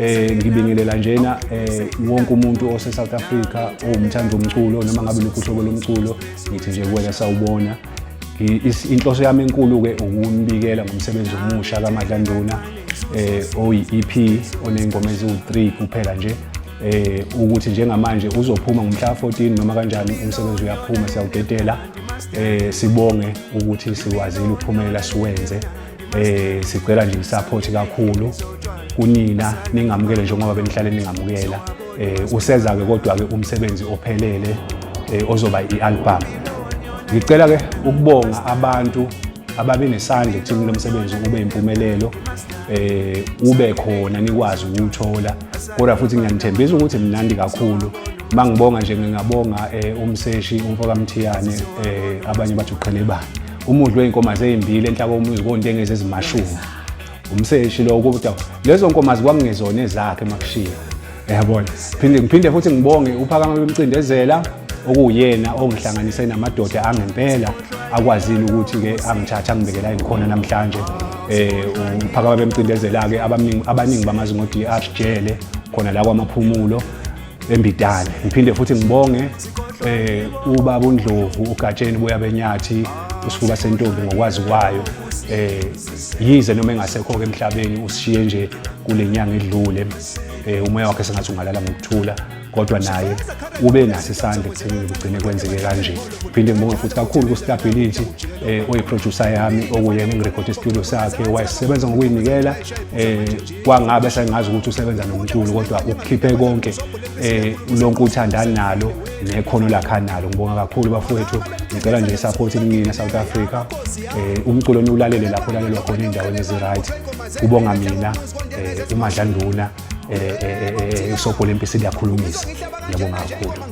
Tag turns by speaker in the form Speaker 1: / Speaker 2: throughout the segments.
Speaker 1: eh ngibingelela njena eh wonke umuntu ose South Africa owumthanda umculo noma ngabe lokuhlobo lomculo ngithi nje kuwena sawubona inhloso yami enkulu ke ukumbikela ngomsebenzi omusha kaMadlanduna eh oyi EP onengoma eziwu3 kuphela nje eh ukuthi njengamanje uzophuma ngomhla 14 noma kanjani umsebenzi uyaphuma siyawudedela eh sibonge ukuthi sikwazile ukuphumelela siwenze eh sicela nje isupport kakhulu kunina ningamukele njengoba benihlale ningamukela eh useza ke kodwa ke umsebenzi ophelele eh, ozoba ialbum ngicela ke ukubonga abantu ababe nesandla ekuthini lomsebenzi ube impumelelo eh ube khona nikwazi ukuthola kodwa futhi ngiyanithembisa ukuthi mnandi kakhulu mangibonga nje ngingabonga eh, umseshi umfoka Mthiyane eh, abanye bathi uqhelebani umudli wey'nkomazi ey'mbili enhla komuzi kontengezi ezimashumi umseshi lo kodwa lezo nkomazi kwakungezona ezakhe makushiya yabona phinde ngiphinde futhi ngibonge uphakama bemcindezela okuwuyena ongihlanganise namadoda angempela akwazile ukuthi-ke angithathe angibekela engikhona namhlanje um uphakama bemcindezela-ke abaningi bamazi ngo-drh jele khona la kwamaphumulo embidane ngiphinde futhi ngibonge eh ubaba uNdlovu uGatsheni buya benyathi usifuba sentombi ngokwazi kwayo eh yize noma engasekho ke emhlabeni usishiye nje kulenyanga edlule eh umoya wakhe sengathi ungalala ngokuthula kodwa naye ube naso isandla ekuthenini kugcine kwenzeke kanje phinde ngibonge futhi kakhulu ku-stability um oyiproducer yami okuyena engirekhode studio sakhe wayesebenza ngokuyinikela um kwangabe sengazi ukuthi usebenza nomculo kodwa ukukhiphe konke eh lonke uthanda nalo nekhono lakha nalo ngibonga kakhulu bafowethu ngicela nje support inina South Africa eh umculo niwulalele lapho lalelwa khona endaweni ezi right kubonga mina eh umadlanduna eh, eh, eh, eh isobho lempisi liyakhulumisa ngiyabonga kakhulu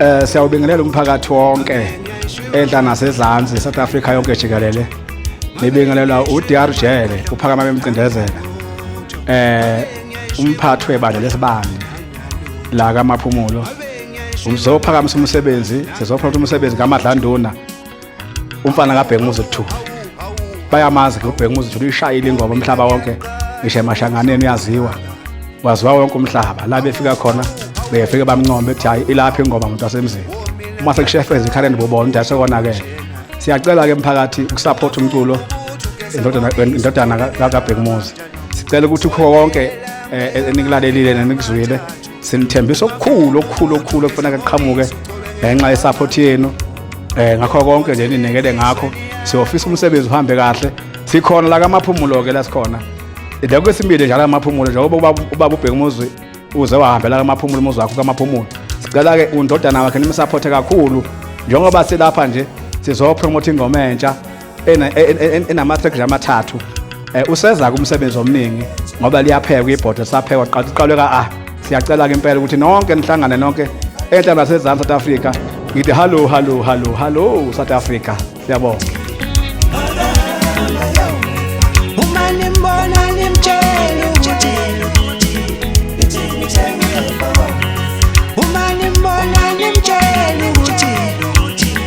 Speaker 1: Eh siyawubingelela umphakathi wonke enhla nasezansi South Africa yonke jikelele. Nibingelela uDR Jele uphakama bemcindezela. Eh umphathi webandla lesibani la kamaphumulo. Umzophakamisa umsebenzi sizophatha umsebenzi kaMadlanduna umfana kabhekumuzi two bayamazi ke ubhekumuzi two ishayile ingoma umhlaba wonke ngisho emashanganeni uyaziwa waziwa wonke umhlaba la befika khona befike bamncombe ethi hhayi ilapha ingoma muntu wasemzini uma sekushefeza ikhaleni bobona ukuthi asekonakele siyacela-ke mphakathi ukusaphotha umculo indodana kabhekumuzi sicela ukuthi ukho konke eh, enikulalelile nenikuzwile sinithembisa okukhulu okukhulu okukhulu okufuneka kuqhamuke ngenxa yesaphothi yenu um ngakho konke nje ninikele ngakho siyofisa umsebenzi uhambe kahle sikhona la kamaphumulo-ke la sikhona la kwesibili njalo amaphumulo njengoba ubaba ubheka umuzi uze wahambe la kamaphumulo umuzi wakho kamaphumulo sicela-ke undodana wakhe nimsaphothe kakhulu njengoba silapha nje sizopromotha ingoma entsha enama-track nje amathathu um useza-ke umsebenzi omningi ngoba liyaphekwa ibhodo saphekwa qala uqalwe ka-a ah, siyacela-ke impela ukuthi nonke nihlangane nonke enhla nasezansi south africa ngithi hallo hallo hallo hallo south africa siyabonga uma nimbona nimtshele ukuthi uma nimbona nimtshele